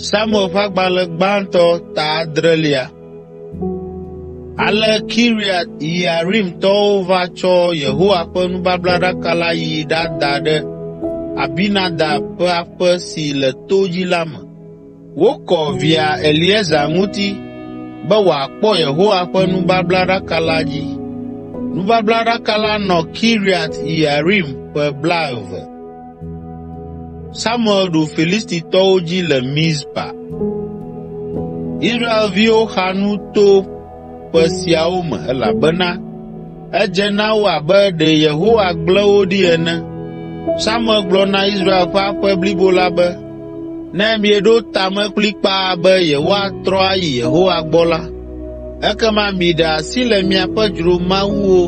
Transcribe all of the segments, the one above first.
Samuel ƒe agbalẽ gbãtɔ ta adrelia. Ale Kiriat Yearimtɔwo va tsɔ Yehowa ƒe nubablaɖaka la yi ɖada ɖe Abinadab ƒe aƒe si le to dzi la me Wokɔ via Eleazar ŋuti be wòakpɔ Yehowa ƒe nubablaɖaka la dzi. Nubablaɖaka la nɔ Kiriat Yearim ƒe blaeve. Samuel ɖu Filistitɔwo dzi le Mizpa ƒe siawo me elabena edze na wo abe ɖe Yehowa gblẽ wo ɖi ene. Samuel gblɔ na Israel ƒe aƒe blibo la be, “Ne mieɖo ta me kplikpaa be yewoatrɔ ayi Yehowa gbɔ la, ekema miɖe asi le miaƒe dzromawuwo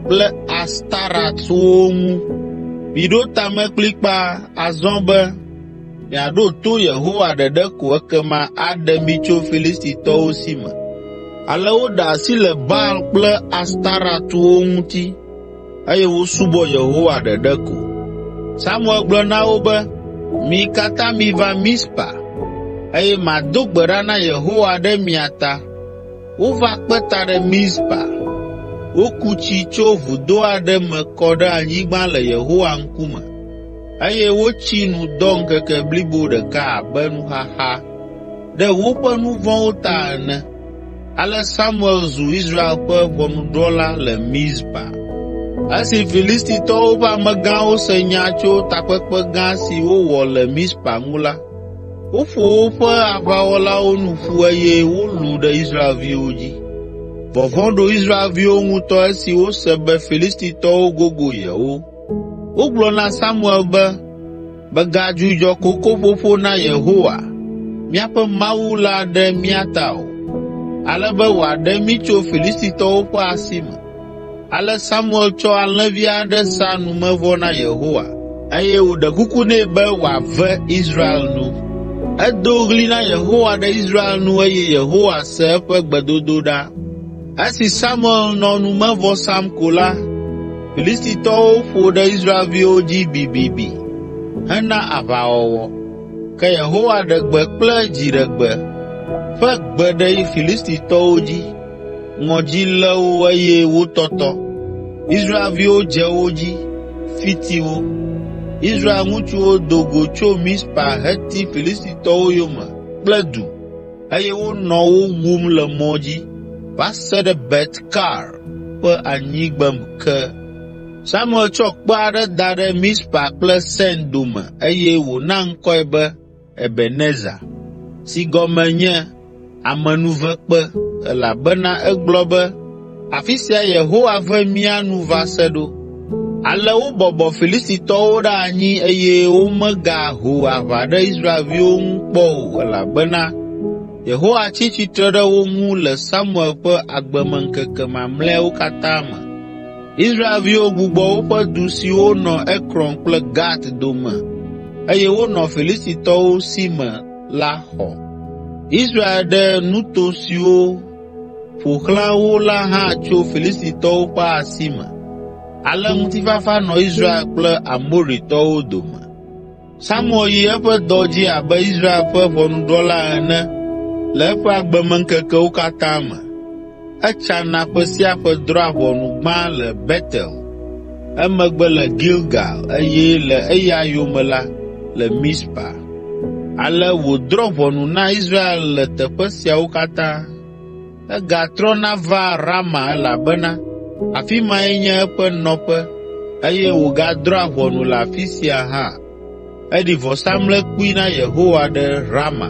kple Astarɔtwo ŋu. Miɖo ta me kplikpaa azɔ be Miaɖo to Yehowa ɖeɖe ko ekema aɖe mi tso Filistitɔwo si me.” Ale woɖe asi le Baal kple Astarɔtwo ŋuti eye wosubɔ Yehowa ɖeɖe ko. Samuel gblɔ na wo be, “Mi katã miva Mizpa eye mado gbe ɖa na Yehowa ɖe mia ta.” Wova kpe ta ɖe Mizpa. Woku tsi tso vudo aɖe me kɔ ɖe anyigba le Yehowa ŋkume. eye wotsi nu dɔ ŋkeke blibo ɖeka abe nuxaxa ɖe woƒe nu vɔ̃wo ta ene. Ale Samuel zu Israel ƒe ʋɔnudrɔ̃la le Mizpa. Esi Filistitɔwo ƒe amegãwo se nya tso takpekpe gã si wowɔ le Mizpa ŋu la, woƒo woƒe aʋawɔlawo nu ƒu eye wolũ ɖe Israelviwo dzi. Vɔvɔ̃ ɖo Israelviwo ŋutɔ esi wose be Filistitɔwo gogo yewo. Wogblɔ na Samuel be, “Mègadzudzɔ kokoƒoƒo na Yehowa, míaƒe Mawu la ɖe mía ta o, ale be wòaɖe mí tso Filistitɔwo ƒe asi me.” Ale Samuel tsɔ alẽvi aɖe sa numevɔ na Yehowa, eye wòɖe kuku nɛ be wòave Israel nu. Edo ɣli na Yehowa ɖe Israel nu eye Yehowa se eƒe gbedodoɖa. Esi Samuel nɔ numevɔ sam ko la, Filistitɔwo ƒo ɖe Israelviwo dzi bibibi hena aʋawɔwɔ. Ke Yehowa ɖe gbe kple dziɖegbe ƒe gbe ɖe Filistitɔwo dzi. Ŋɔdzi lé wo eye wotɔtɔ. Israelviwo dze wo dzi, fiti wo. Israel ŋutsuwo do go tso Mizpa heti Filistitɔwo yome kple du. eye wonɔ wo wum le mɔ dzi va se ɖe Bet Kar ƒe anyigbem ke. Samuel tsɔ kpe aɖe da ɖe Mizpa kple Sen dome eye wòna ŋkɔe be Ebenezer, si gɔme nye Amenuvekpe, elabena egblɔ be, Afi sia Yehowa ve mía nu va se ɖo.” Ale wobɔbɔ Filistitɔwo ɖe anyi eye womegaho aʋa ɖe Israelviwo ŋu kpɔ o elabena Yehowa tsi tsitre ɖe wo ŋu le Samuel ƒe agbemeŋkeke mamlɛawo katã me. Israelviwo gbugbɔ woƒe du siwo nɔ Ekron kple Gat dome eye wonɔ Filistitɔwo si me la xɔ. ƒo xlã wo la hã tso Filistitɔwo ƒe asi me. Ale ŋutifafa nɔ Israel kple Amoritɔwo dome. Samuel yi eƒe dɔ dzi abe Israel ƒe ʋɔnudrɔ̃la ene le eƒe agbemeŋkekewo katã me. Etsana ƒe sia ƒe drɔ̃a ʋɔnu gbã le Betel. emegbe le Gilgal eye le eya yome la, le Mizpa. Ale wòdrɔ̃ ʋɔnu na Israel le teƒe siawo katã. Egatrɔna vaa Rama elabena afi mae nye eƒe nɔƒe eye wògadrɔ̃a ʋɔnu le afi sia hã. Eɖi vɔsamlekpui na Yehowa ɖe Rama.